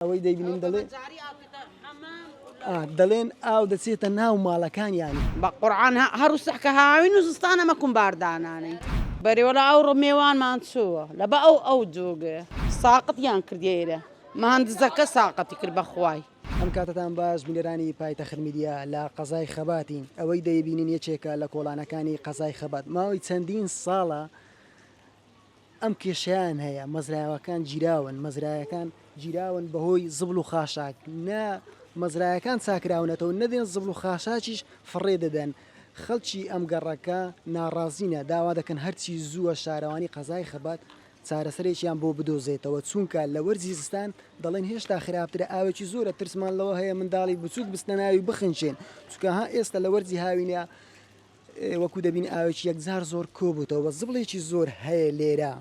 ئەوەی دەیبینین دەڵێ دەڵێن ئاو دەچێتە ناو ماڵەکانیان. بە قورعان هەر وسح کە هاوین و زستان ئەمە کوم بار دانانین. بەری وەلا ئەو ڕۆ مێوانمان چووە لە بە ئەو ئەو جووگێ. ساقت یان کردیە ئێرە مهندزەکە ساقتی کرد بە خوای. ئەم کاتەتان باش بینەرانی پایتەخت میدیا لە قەزای خەباتین ئەوەی دەیبینین یەکێکە لە کۆڵانەکانی قەزای خەبات ماوەی چەندین ساڵە، ئەم کێشەیان هەیە مەزرایەوەکان گیراون مەزرایەکان گیراون بەهۆی زبڵ و خاشاک نە مەزرایەکان چاکراونەتەوە نەدێن زبڵ و خاشاکیش فڕێ دەدەن خەڵکی ئەم گەڕەکە ناڕازینە داوا دەکەن هەرچی زووە شارەوانی قەزای خەبات چارەسەرێکیان بۆ بدۆزێتەوە چونکە لە وەرزی زستان دەڵێن هێشتا خراپترە ئاوێکی زۆرە ترسمان لەوە هەیە منداڵی بچووک بچنە ناوی بخنکێن چونکە ها ئێستا لە وەرزی هاوینە وەکو دەبینی ئاوێکی یەکجار زۆر کۆبووتەوە بە زبڵێکی زۆر هەیە لێرە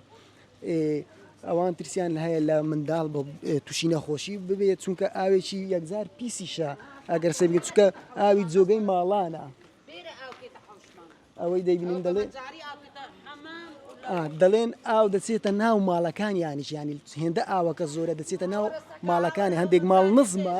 ئەوان ترسیان هەیە لە منداڵ بە تووشی نەخۆشی ببێت چونکە ئاوێکی یەکجار پیسیشە ئەگەر سێبگە چکە ئاوی جۆگەی ماڵانە ئەوەی دەیبین دەڵێ دەڵێن ئاو دەچێتە ناو ماڵەکان یانیش ینی هێندە ئاوەکە زۆرە دەچێتە ناو ماڵەکانی هەندێک ماڵ نزمە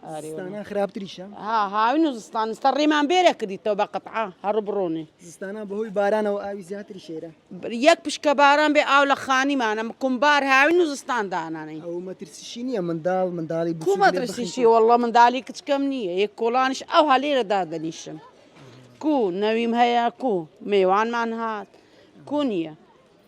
زستانە خراپتریشە ها هاوین و زستانستە ڕێمان بێرە کردیتەوە بە قەتع هەڕ بڕۆنێ زستانە بەهۆی بارانەوە ئاوی زیاتری شێرە یەک پشکە باران بێ ئاو لە خانیمانە مکمبار هاوین و زستان دانانەی ئەو مەترسیشی نییە منداڵ منداڵی کومەترسیشی وەڵە منداڵی کچکەم نییە یەک کۆڵانش ئەو هەلێرە دادەنیشن کو نەویم هەیە کو مێوانمان هات کو نییە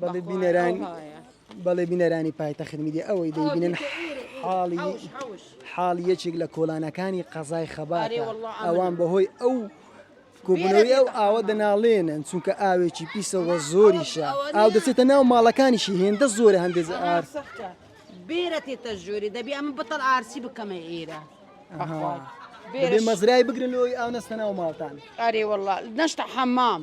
بەڵێ بینەرانی بەڵێ بینەرانی پایتەخت میدیا ئەوەی دەبینن حاڵی حاڵی یەکێک لە کۆلانەکانی قەزای خەبات ئەوان بەهۆی ئەو کۆبوونەوەی ئەو ئاوە دەناڵێنن چونکە ئاوێکی پیسەوە زۆریشە ئاو دەچێتە ناو ماڵەکانیشی هێندە زۆرە هەندێک ئار بێرە تێتە ژووری دەبی ئەمە بەتەڵ ئارسی بکەمە ئێرە. مەزرای بگرن لەوەی ئاو نەستە ناو ماڵتان ئارێ وڵا نەشتا حەمام.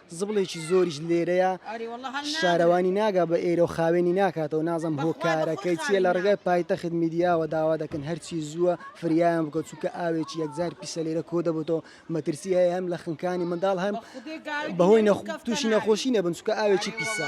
زبڵێکی زۆریش لێرەیە شارەوانی ناگا بە ئێرە و خاوێنی ناکاتەوە نازم هۆ کارەکەی چیە لە ڕگای پایتەخت میدیاوە داوا دەکەن هەرچی زووە فریایان بکە چووکە ئاوێکی یەکجار پیسە لێرە کۆ دەبتەوە مەترسی هەیە هەم لە خنکانی منداڵ هەم بەهۆی تووشی نەخۆشی نەبن چووکە ئاوێکی پیسە.